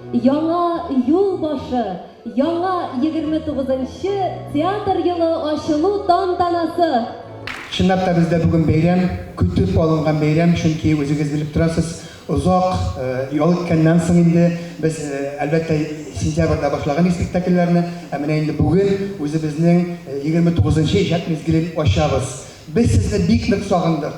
Яңа юл башы, яңа 29 нчы театр елы ачылу тантанасы! Чынлап та бездә бүген бәйрәм, көтеп алынган бәйрәм, чөнки үзегез белеп торасыз, озак ял иткәннән соң инде без, әлбәттә, сентябрьдә башлаган идек спектакльләрне, ә менә инде бүген үзебезнең 29 нчы иҗат мизгелен ачабыз. Без сезне бик нык сагындык,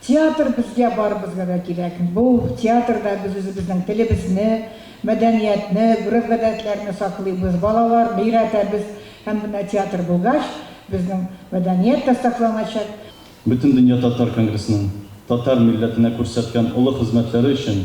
Театр безгә барыбызга да кирәк. Бу театрда без үзебезнең телебезне, мәдәниятне, гореф-гадәтләрне саклыйбыз, балаларны өйрәтәбез. Һәм менә театр булгач, безнең мәдәният тә сакланачак. Бөтендөнья татар конгрессының татар милләтенә күрсәткән олы хезмәтләре өчен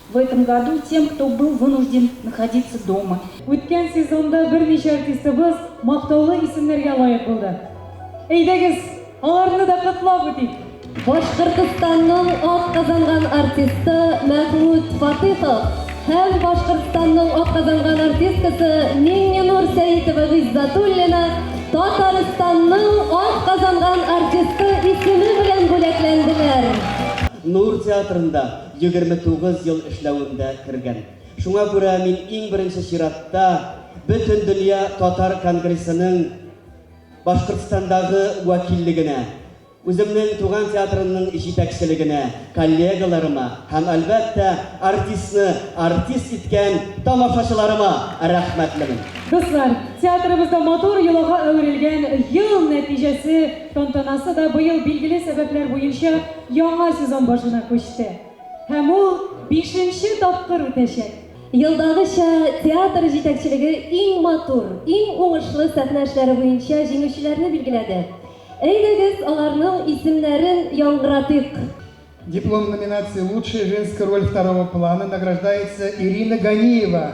В этом году тем, кто был вынужден находиться дома. Үткән сезонда берничә артистыбыз мактаулы исемнәргә лаек булды. Әйдәгез, аларны да котлап үтик! Башкортостанның атказанган артисты Мәхмүт Фатыйхов һәм Башкортостанның атказанган артисткасы Миңненур Сәитова Гыйззатуллина Татарстанның атказанган артисты исеме белән бүләкләнделәр. Нур театрында Егерме тугыз ел эшләвемдә кергән. Шуңа күрә мин иң беренче чиратта Бөтендөнья татар конгрессының Башкортстандагы вәкиллегенә, үземнең туган театрымның җитәкчелегенә, коллегаларыма һәм, әлбәттә, артистны артист иткән тамашачыларыма рәхмәтлемен. Дуслар, театрыбызда матур йолага әверелгән Ел нәтиҗәсе тантанасы да быел билгеле сәбәпләр буенча яңа сезон башына күчте һәм ул бишенче тапкыр үтәчәк. Елдагыча, театр җитәкчелеге иң матур, иң уңышлы сәхнә эшләре буенча җиңүчеләрне билгеләде. Әйдәгез, аларның исемнәрен яңгыратыйк. Диплом номинации Лучшая женская роль второго плана награждается Ирина Ганиева,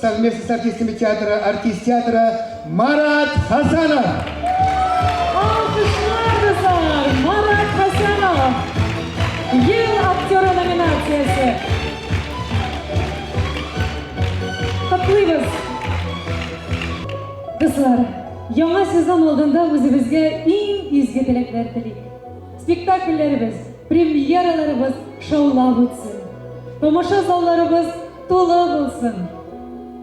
Совместность артистами театра, артист театра Марат Хасанов. Алкышлар кызлар, Марат Хасанов. Ел актеры номинациясе. Котлыйбыз. Кызлар, яңа сезон алдында үзебезгә иң изге теләкләр телик. Спектакльләребез, премьераларыбыз шаулап үтсен. Тамаша залларыбыз Тулы булсын!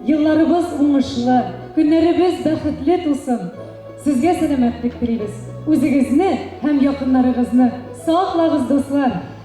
Елларыбыз уңышлы, көннәребез бәхетле тусын! Сезгә сәламәтлек телибез! Үзегезне һәм якыннарыгызны саклагыз, дуслар!